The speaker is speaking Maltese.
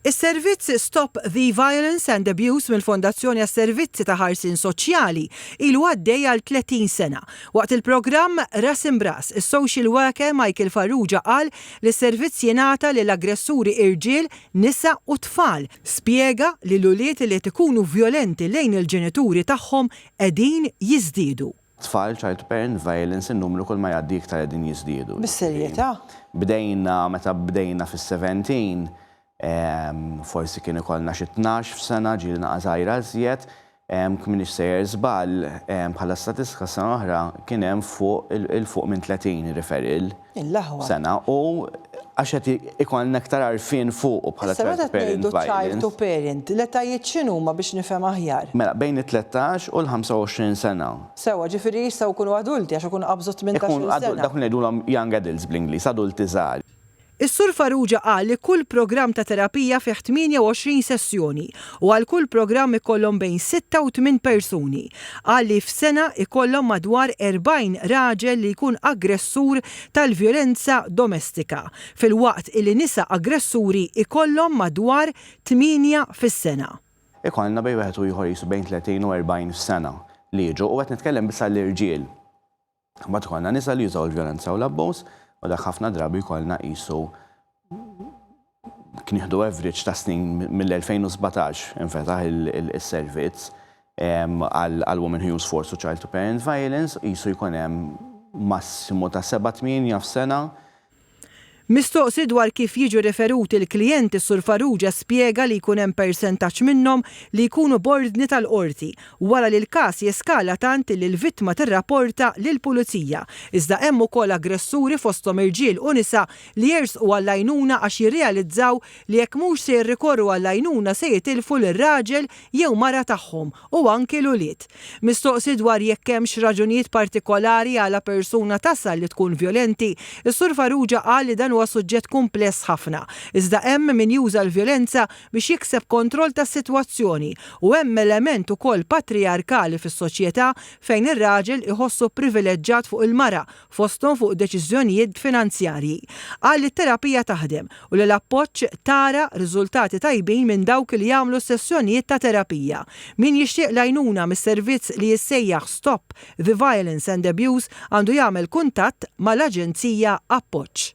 Is-servizz Stop the Violence and Abuse mill-Fondazzjoni għas-Servizzi ta' Ħarsien Soċjali ilu għaddej għal 30 sena. Waqt il-programm Ras Imb'Ras, is-social worker Michael Farrugia qal li s-servizz jingħata lil aggressuri irġiel, nisa u tfal. Spjega li l-ulied li qed ikunu vjolenti lejn il-ġenituri tagħhom qegħdin jiżdiedu. tfal, child parent violence, in-numru kull ma jgħaddi iktar qegħdin jiżdiedu. Bis-serjetà? Bdejna, meta bdejna fis-seventeen, forsi kien ikollna xi tnax f'sena, ġieli naqas għajr ażjed, jekk m'iniex sejjer żball, bħala statistika s-sena l-oħra kien hemm fuq, 'il fuq minn tletin referral. sena u għax qed ikollna iktar għarfien fuqu bħala child to parent violence. Issa meta tgħidu child to parent, l-etajiet x'inhuma biex nifhem aħjar? Mela bejn it-tlettax u l-25 sena. Sewwa, ġifieri jistgħu jkunu adulti għax ikunu qabżu t-tmintax-il sena. Ikunu dawk li ngħidulhom young adults bl-Ingliż, adulti żgħar. Is-Sur Farrugia qal li kull programm ta' terapija fih 28 sessjoni u għal kull programm ikollhom bejn sitta u tmien persuni. Qal li f'sena jkollhom madwar 40 raġel li jkun aggressur tal-vjolenza domestika, filwaqt illi nisa aggressuri jkollhom madwar tmienja fis-sena. Ikollna bejn wieħed u ieħor qisu bejn 30 u 40 f'sena li jiġu u qed nitkellem biss għall-irġiel. Mbagħad ikollna nisa li jużaw il-vjolenza u l-abbuż u dak ħafna drabi jkollna qisu knieħdu average ta' snin mill-2017 infetaħ is-servizz għal Women Who Use Force u Child to Parent Violence qisu jkun hemm massimu ta' seba' tmienja f'sena Mistoqsi dwar kif jiġu riferuti l-klijenti Sur Farrugia spjega li jkun hemm persentaġġ minnhom li jkunu b'ordni tal-Qorti wara li l-każ jeskala tant illi l-vittma tirrapporta lill-Pulizija iżda hemm ukoll aggressuri fosthom irġiel u nisa li jersqu għall-għajnuna għax jirrealizzaw li jekk mhux se jirrikorru għall-għajnuna se jitilfu lir-raġel jew mara tagħhom u anki l-ulied. Mistoqsi dwar jekk hemmx raġunijiet partikolari għala persuna tasal li tkun vjolenti, is-Sur Farrugia qal li dan huwa suġġett kumpless ħafna, iżda hemm min juża l-vjolenza biex jikseb kontroll tas-sitwazzjoni u hemm element ukoll patrijarkali fis-soċjetà fejn ir-raġel iħossu privileġġat fuq il-mara fosthom fuq deċiżjonijiet finanzjarji, qal li t-terapija taħdem u li l-appoġġ tara riżultati tajbin minn dawk li jagħmlu s-sessjonijiet ta' terapija. Min jixtieq l-għajnuna mis-servizz li jissejjaħ Stop the Violence and Abuse għandu jagħmel kuntatt mal-Aġenzija Appoġġ.